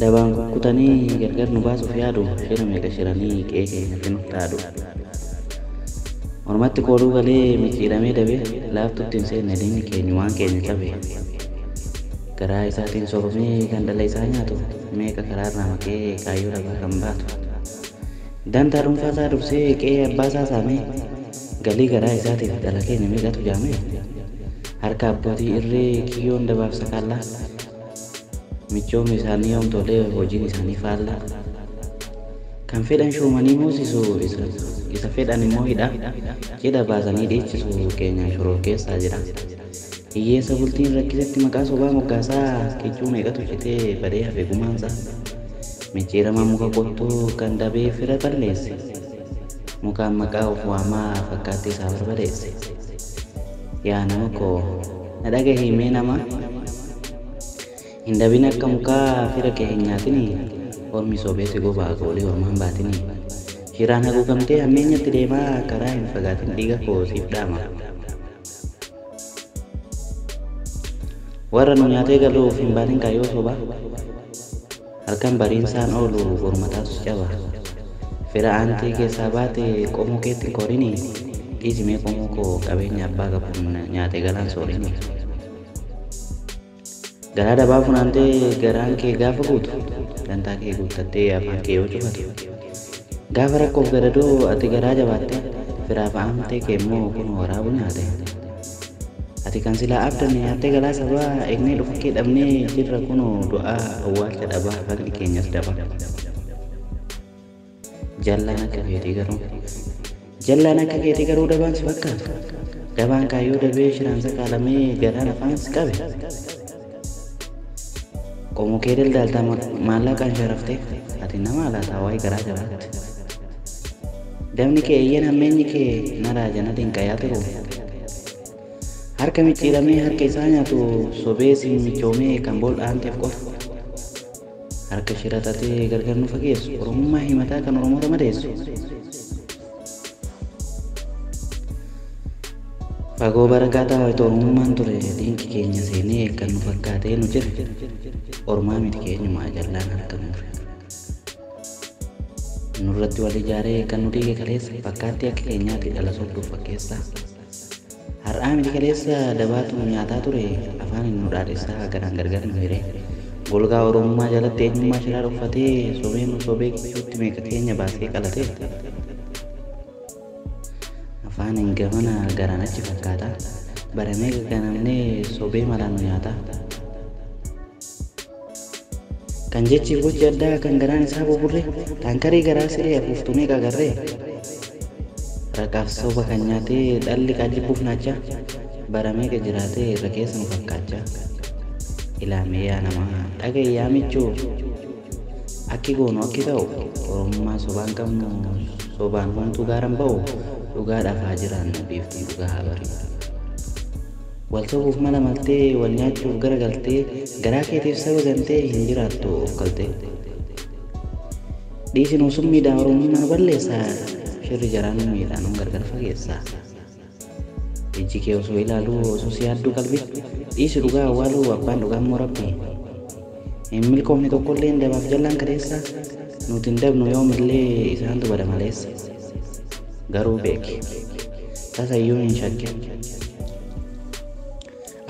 Dabaan kukkutanii gargar nu baasuuf yaadu Shira meeqa shiranii qe'ee keenyatti nuuf dhaadu Mormatti kooluu galee micciiramee dabe Laaftutti hin seenne diinni keenyu waan keenya cabe Garaa isaatiin soofamee kan dhala isaa nyaatu Meeqa karaarraa maqee kaayyoo dhabaa kan baatu Dantaa dhuunfaa isaa dursee qe'ee abbaa isaa saamee Galii garaa isaatiif dhala keenya meeqatu jaame? Harka abbootii irree kiyyoon dabaaf sakaallaa? Michoomni isaanii yoom tolee hojiin isaanii faallaa? Kan fedhan shuumanii moosisu isa fedhan immoo hidhaa? Cidha baasanii dhiichisu keenyaan shororkeessaa jedhaa? Hiyyeessa bultiin rakkisetti maqaa sobaa moggaasaa kichuu meeqatu citee badee hafe gumaansaa? Micciiramaa muka qottuu kan dabee fira balleesse? Mukaan maqaa of waamaa fakkaattee isaa barbadeesse. Yaa nama koo na dhagahii mee nama Hin dabin akka mukaa fira kee hin nyaatini Ormi sobee si gobaa goolii ormaan baatini Shiraan haguugamtee hammeenyatti deemaa karaa hin fagaatin dhiiga koo siif dhaama Warra nu nyaatee galuuf hin baatin kaayyoo sobaa. Halkan bariinsaan oolu boru mataatu si caba. Fira aantii keessaa baate qomoo keetti hin koorini. Dhiisi mee qomoo koo qabeenya abbaa qabuun nyaate galaan soorini. Garaa dabaa funaantee garaan kee gaafa guutu, dantaa kee guuttattee afaan kee yoo cufatu. Gaafa rakkoof gadadoo ati garaa jabaatte, firaaf aantee kee immoo kunoo waraabu nyaate. Ati kan silaa abdanne nyaattee galaa sabaa egnee dhufakkee dhabnee jirra kunoo du'aa awwaalcha dhabaa haqni keenyas dabaa. Jallaan akka keetii garuu Jallaan akka keetii garuu dabaan si fakkaata. Dabaan kaayyoo dabee shiraan sakaalamee garaan afaans qabe. Qomoo kee daldaaltaa maallaqaan sharaftee ati nama alaataa waa'ee garaa jabaatte. Dabni kee eeyyeen hammeenyi kee naraa janata hin qayaatiru. Harka micciiramee harka isaa nyaatu sobee siin michoomee kan bool'aanteef qofa. Harka shira xaxee gargar nu fageessu. Oromummaa himataa kan Oromoota madeessu. Fagoo barakaataa wayita Oromummaan ture diinqi keenya seenee kan nu fakkaatee nu jire. Ormaa miti keenyumaa jallaan harka mure. Nurratti wal ijaaree kan nu diige kaleessa fakkaattii akka keenyaati dhala sobduuf fakkeessaa. Har'aa miti kaleessa dabaatu nu nyaataa ture afaaniin nu dhaadhessaa garaan gargar nu hiree golgaa oromummaa jalatti eenyummaa shiraa dhokfatee sobee nu sobee gidduutti meeqa keenya baasee qalatee afaaniin gamana garaan achi fakkaataa bara meeqa ganamnee sobee malaan nu nyaataa. Kan jechiif gochi addaa kan garaan isaa buburre taankarii garaa siree afuuftu meeqa agarree? Raqaaf soba kan nyaatee dhalli kaa jibbuuf naachaa bara meeqa jiraatee irra keessa nu fakkaachaa Ilaa mee yaa namaa dhaga'i yaa michuu Akki goonu akki ta'u oromummaa sobaan qabnu sobaan homtuu gaaran ba'u dhugaadhaaf haa jiraannu biiftuun dhugaa haa bari'u. Wal sobuuf mala maltee Wal nyaachuuf gara galtee Garaa keetiif saba gantee Hin jiraattu of kaltee Dhiisi nuu summiidhaa Oromummaa nu balleessa Shirri jaraa nu miidha Nun gargar fageessa Ijji kee osoo ilaaluu Osoo si yaadduu qalbiin Dhiisi dhugaa awwaaluu Abbaan dhugaammoo Rabbii. Hin milkoofne tokkolleen dabaaf jallaan kaleessa nuti hin dabnu yoomillee isaantu bada maleessa garuu beeki tasayyuu hin shakkin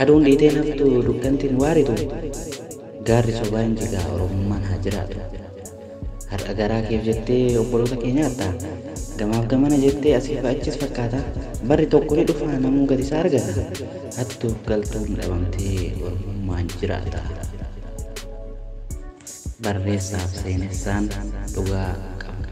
aduun dhiitee naftu dukkantiin waaritu gaarri sobaan jigaa oromummaan haa jiraatu. Har'a garaa keef jettee obboloota kee nyaatta. Gamaaf gamana jettee asii fi achis fakkaata. Barri tokko ni dhufa namuu gati isaa argata. Hattuuf galtuun dhabamtee ormummaan jiraata. Barreessaaf seenessaan dhugaa qabna.